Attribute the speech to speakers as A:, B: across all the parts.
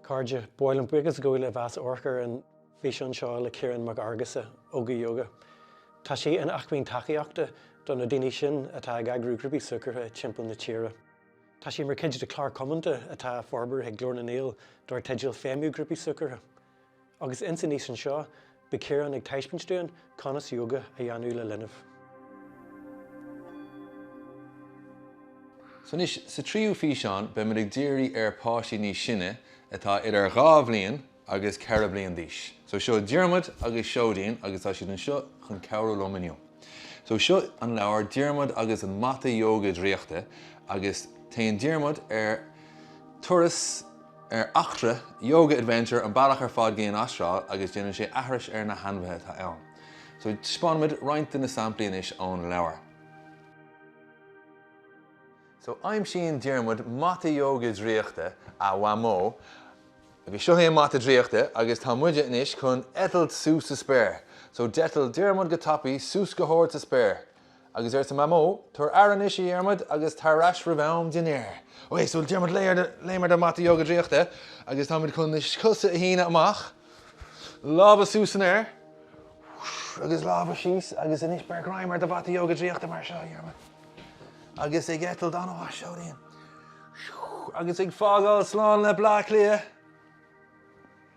A: Cairde, ba mhaith linn buíochas a ghabháil libh as amharc ar an bhfíseán seo le Ciarán Mac Fheargusa, Óga Yoga. Tá sé ina acmhainn tacaíochta do na daoine sin atá ag eagrú grúpaí súgartha timpeall na tíre. Tá sé mar chuid de chlár comónta atá á forbairt ag Glór na nGael dar teideal Feidhmiú Grúpaí Súgartha. Agus ins an fhíseán seo, beidh Ciarán ag taispeáint dúinn conas yoga a dhéanamh le linbh. So anois, sa tríú físeán, beimid ag díriú ar páistí níos sine atá idir dhá bhliain agus ceithre bliain d'aois. So seo Diarmuid agus Seoidín agus tá siad anseo chun cabhrú liom inniu. So seo an leabhar Diarmuid agus an mata yoga draíochta agus téann Diarmuid ar turas, ar eachtra, yoga adventure, an bealach ar fad go dtí an Astráil agus déanann sé aithris ar na hainmhithe atá ann. So taispeánfaimid roinnt de na samplaí anois ón leabhar. So aimsíonn Diarmuid mata yoga draíochta a Mhamó agus seo é an mata draíochta agus tá muide anois chun eitilt suas sa spéir. So d'eitil Diarmuid go tapaidh suas go hard sa spéir. Agus arsa Mamó, Tabhair aire anois a Dhiarmaid agus tar ar ais roimh am dinnéir. Ok so Diarmaid léim ar do mhata Ióga draíochta agus táimid chun na cosa a shíneadh amach. Lámha suas san aer agus lámha síos agus anois beir greim ar do Mhata Ióga draíochta mar seo a Dhiarmaid. Agus ag eitilt an-mhaith a Sheoidín agus ag fágáil slán le Bleá Cliath.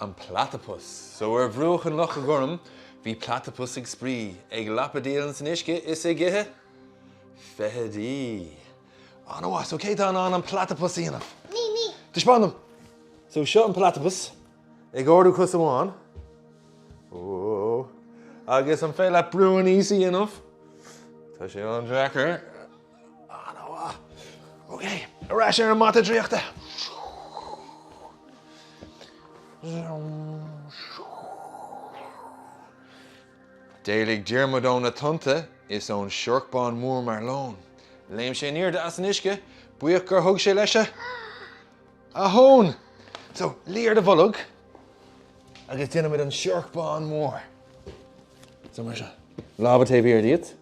A: An Platapas. So ar bhruach an Locha Gorm bhí platapas ag spraoi, ag lapadaíl ins an uisce is ag ithe feithidí. An-mhaith. So cé atá in ann an platapas a dhéanamh? Me, me. Taispeáin dom. So seo an platapas ag ardú cos amháin. Whoa. Agus an féidir leat brú aníos a dhéanamh. Tá sé an-deacair. An-mhaith. Ok, ar ais ar an mata draíochta. D'éalaigh Diarmuid ó na tonnta is ón siorc bán mór mar lón. Léim sé in airde as an uisce, buíoch gur thug sé leis a thóin. So, luigh ar do bholg agus déanfaimid an siorc bán mór. So mar seo. Lámha taobh thiar díot.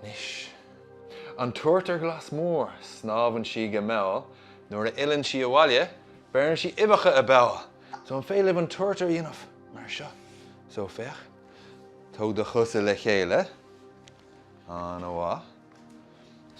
A: Anois, an turtar glas mór, snámhann sí go mall, nuair a fhilleann sí abhaile, beireann sí uibheacha i bpoll. So, an féidir libh an turtar a dhéanamh mar seo? So, féach, tóg do chosa le chéile, an-mhaith.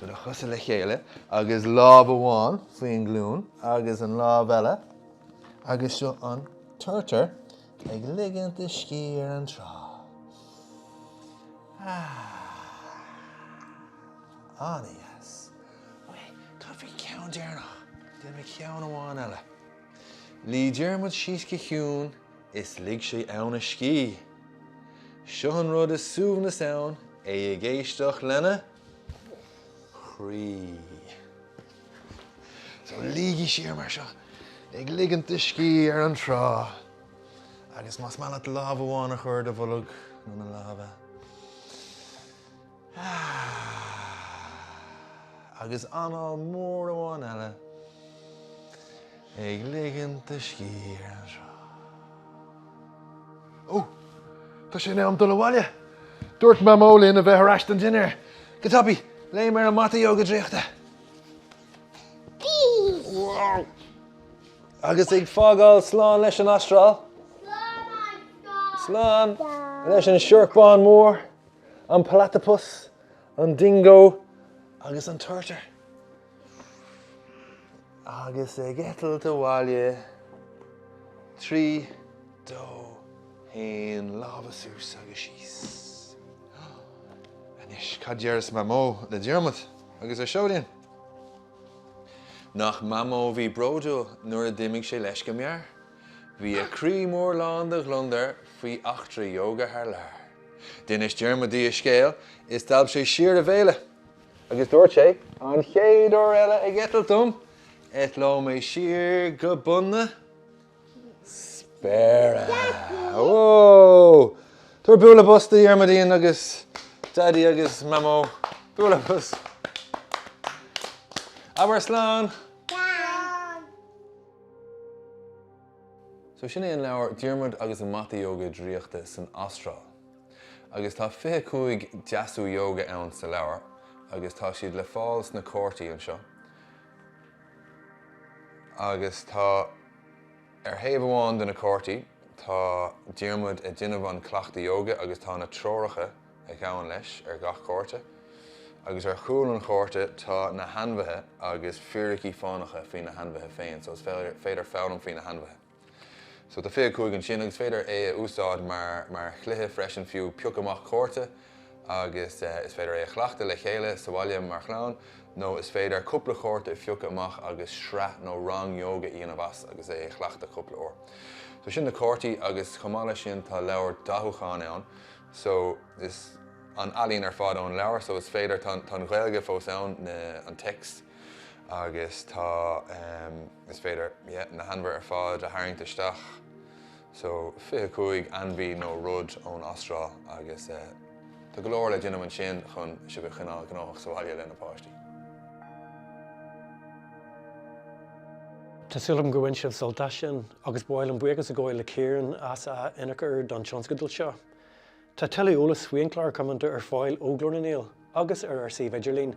A: So, do chosa le chéile agus lámh amháin faoin nglúin agus an lámh eile agus seo an turtar. Ag ligint do scíth ar an trá. Ahh. Ana dheas. Ué, cad faoi cheann deireanach? Déanfaidh mé ceann amháin eile. Luigh Diarmuid síos go ciúin is lig sé ansin a scíth. Seo an rud is suaimhneas ann é ag éisteacht lena chroí. So luígí siar mar seo ag ligint do scíth ar an trá agus más maith leat lámh amháin a chur ar do bholg nó na lámha agus anáil mór amháin eile ag ligint do scíth ar an trá. Ó, Tá sé in am dul abhaile. Dúirt Mamó linn a bheith ar ais don dinnéar. Go tapaidh, léim ar an mata yoga draíochta. Agus ag fágáil slán leis an Astráil. Slán leis an siorc bán mór, an platypus, an dingo agus an turtar. agus ag eitilt abhaile trí dó haon lámha suas agus síos. Anois cad déarfas Mamó le Diarmuid agus ár seoidín. Nach Mamó a bhí bródúil nuair a d'imigh sé leis go mear. Bhí a croí mór lán de ghliondair faoi eachtra Yoga thar lear. D'inis Diarmuid di a scéal is d'alp sé siar a bhéile. Agus dúirt sé, An chéad uair eile ag eitilt dom, eitleoidh mé siar go bun na spéire! Whoa! Tabhair bualadh bos do Dhiarmuidín agus Daidí agus Mamó. Bualadh bos! Abair slán! So sin é an leabhar Diarmuid agus an Mata Yoga Draíochta san Astráil. agus tá 25 deasú ióga ann sa leabhar agus tá siad le fáil sna cártaí anseo agus tá ar thaobh amháin de na cártaí tá Diarmuid a' déanamh an cleachtadh ióga agus tá na treoracha a ghabhann leis ar gach cárta agus ar chúl an chárta tá na hainmhithe agus fíricí fánacha faoi na hainmhithe féin so is féidir foghlaim faoi na hainmhithe. So tá 25 ansin agus is féidir é a úsáid mar mar chluiche freisin fiú, pioc amach cárta agus is féidir é a chleachtadh le chéile sa bhaile mar chlann nó is féidir cúpla cárta a phiocadh amach agus sraith nó rang yoga a dhéanamh as agus é a chleachtadh cúpla uair. So sin na cártaí agus chomh maith leis sin tá leabhar dathúcháin ann so is an ealaín ar fad ón leabhar so is féidir tá an Ghaeilge fós ann na an text. agus tá, em, is féidir, yeah, na hainmhithe ar fad a tharraingt isteach, so, fiche cúig ainmhí nó rud ón Astráil agus, eh, tá go leor le déanamh ansin chun sibh a choinneáil gnóthach sa bhaile leis na páistí. Tá súil agam go bhain sibh sult as sin agus ba mhaith liom buíochas a ghabháil le Kieran as a ionchur don tionscadal seo. Tá tuilleadh eolais faoinár gclár Cumainn ar fáil ó Ghlór na nGael agus ar ár suíomh idirlín.